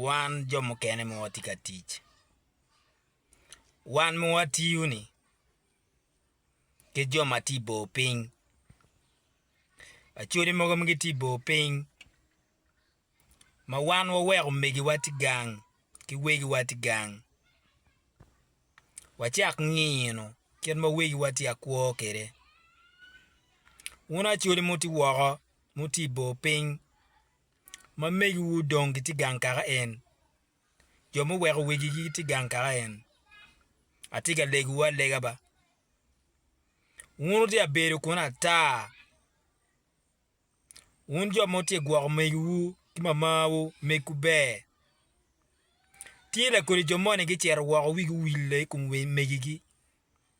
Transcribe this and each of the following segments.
Wan jo mukene ma watye ka tic, wan ma watiyo-ni ki jo ma tye i bor piny, Acholi mogo ma gitye i bor piny ma wan waweko omegiwa tye gang ki wegiwa tye gang, wacak nino kit ma wegiwa tye ka kwo kwede. Wun Acholi ma wutye woko ma wutye i bor piny. ma megiwu dong gitye gang kaka en, jo muweko wigi gitye gang kaka en. Atye ka legowu alega ba, wun wutye ka bedo kuno ata, wun jo ma wutye ka gwoko megiwu ki mamawu megwu ber. Tye lakodi jo moni gicito woko wigi owille i kom megigi.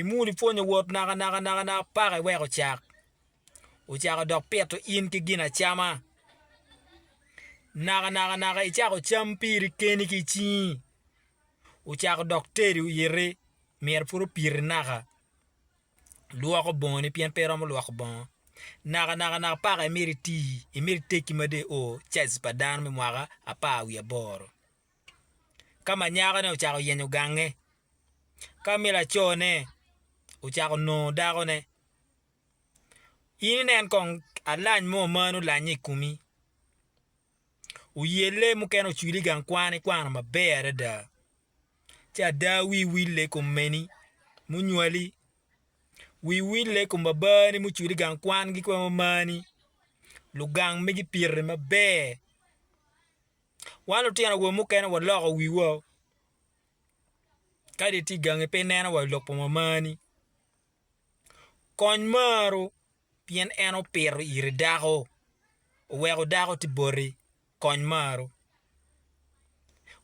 Imul ipwony owot naka naka naka naka paka iweko cak ocako dok pito in ki gin acama naka naka naka icako cam piri keni ki icingi ocako dok teri oyiti myero pud opiti naka lwoko bongoni pien pe iromo lwoko bongo naka naka naka paka imito iti imito itegi mada i oo caji pa dano me mwaka apar wiye aboro. ka ma nyakone ocako yenyo gange, ka ma lacone ocako nongo dakone, in inen kong alany mo ma nongo olanye i komi, oyelle mukene ocwili i gang kwan ikwano maber adada ci ada wii owille i kom meni munywali, wii owille i kom babani mucwili i gang kwan-gi ki ma mumani, lugang magi pire maber. Wan lutino awobe mukene waloko wiwa kadi itye i gangi pe ineno wa i lok pa mamani. Kony marwu pien en opito iri dako, oweko dako tye boti. Kony marwu.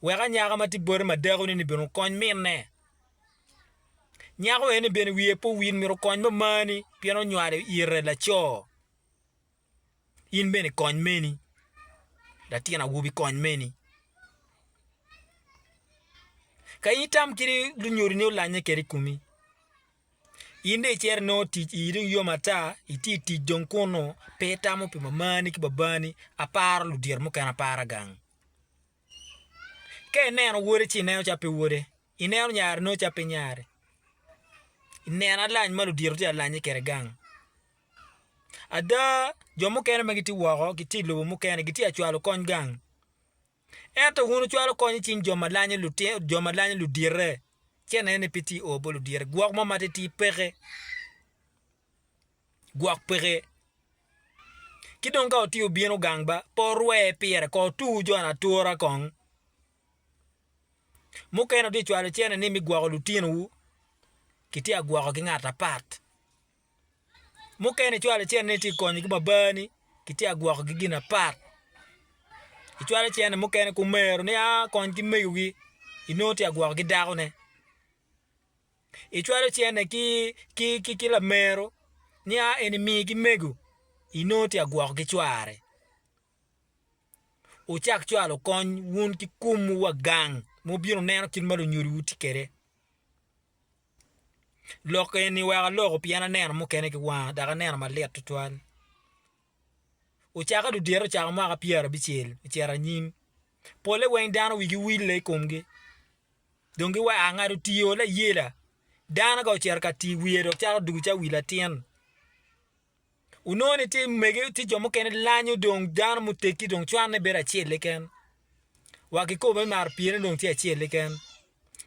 Wek anyaka ma tye boti ma dakoni-ni bene okony minne. Nyako eni bene wiye pe owil myero okony mamani pien onywalo ite laco. In bene kony meni, latin awobi kony meni. Ka in itam kiri lunyodi ni olanye kede i kumi, in dong icito inongo tic ii dong yom ata, iti i tic dong kunu, pe itamo pi mamani ki babani, aparo ludito mukene apara gang. Ka ineno wode ci ineno calo pe wode, ineno nyare inongo calo pe nyare, ineno alany ma ludito tye ka lanye kwede gang. Ada, jo mukene ma gitye woko gitye i lobo mukene gitye ka cwalo kony gang. Ento wun wucwalo kony i cing jo ma lanyo lutino, jo ma lanyo ludite. Ci anene ni pe tye i oo bot ludite. Gwok mo ma titidi peke. Gwok peke. Ki dong ka wutye wubino gang ba, pe wurwe pire kong wutu jone atura kong. Mukene wutye ka cwalo cente ni me gwoko lutinowu, kitye ka gwokogi ngat apat. mukene icwalo icennene itye ka konyogi ba bani kitye ka gwokogi gin apat icwalo icenne mukene kumero ni a kony ki megogi inongo tye ka gwoko ki dakone icwalo icenne ki lamero ni a en imi ki mego inongo tye ka gwoko ki cware wucak cwalo kony wun ki kumwu wa gang ma wubino wuneno kit ma lunyodiwu tye kwede. Lok eni weko aloko pien aneno mukene ki wanga dok aneno malit tutwal. Ocake dudito ocako mwaka pyerabicel ocito anyim, polle weng dano wigi wille i komgi dong giwaco aa ngat otiyo layela, dano ka ocito ka tiyo wiye dok cako dugo calo wi latin. Wunongo ni tye mege, tye jo mukene lanyo dong dano muteggi dong cwanne bedo acel keken. Wa kikobo ni mar pyene dong tye acel keken.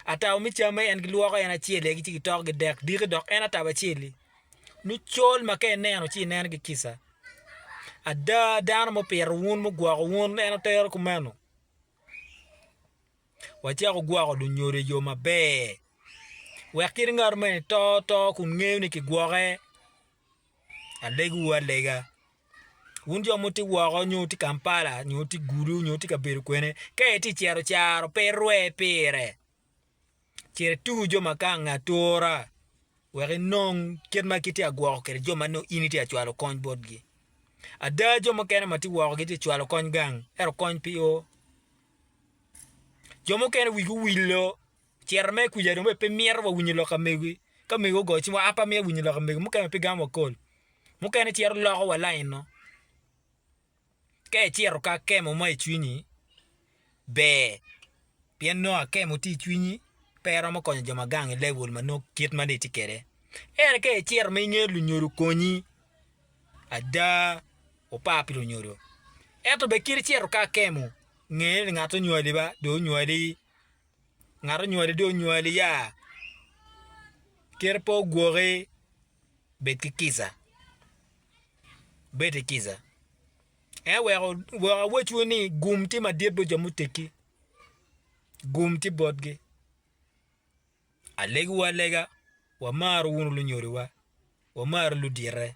Atabo me camme en gilwoko en acel egi ci gitoko gidek diki dok en atabo acel-li. Lucol ma ka ineno ci ineno ki kica. Ada dano mupito wun mugwoko wun en otero kumeno. wacako gwoko lunyodo i yo maber wek kit ngat ma eni to to kun ngeyo ni kigwoke alegiwu alega wun jo ma wutye woko nyo wutye Kampala nyo wutye Gulu nyo wutye kabedo kwene ka itye ka cito caro pe irwe pire cit ituku jo ma kanga atura wek inong kit ma kitye ka gwoko kwede jo ma nongo in itye ka cwalo kony botgi ada jo mukene ma tye woko gitye ka cwalo kony gang ento kony pe o. Jo mukene wigi owillo, ciro me kuca dong bene pe mito wa winyo lok ka megogi. Ka mego ogoyo cing wa a pe amito winyo lok ka mego, mukene bene pe gamo akol. Mukene ciro loko wa lainno. Ka iciro ki akemo mo i cwinyi, ber pien nongo akemo tye i cwinyi pe iromo konyo jo ma gang i level ma nongo kit ma nongo itye kwede. Ento ka iciro ma ingeyo lunyodo okonyi, ada opar pi lunyodo. Ento bed kit icito ka akemo, nge ni ngat onywali ba dong onywali, ngat onywali dong onywali ya. Kite pe ogwoki, bed ki kica, bed ki kica. En weko wek awecwu ni gum tye madit bot jo muteggi, gum tye botgi. Alegiwu alega, wamaro wunu lunyodowa, wamaro ludite.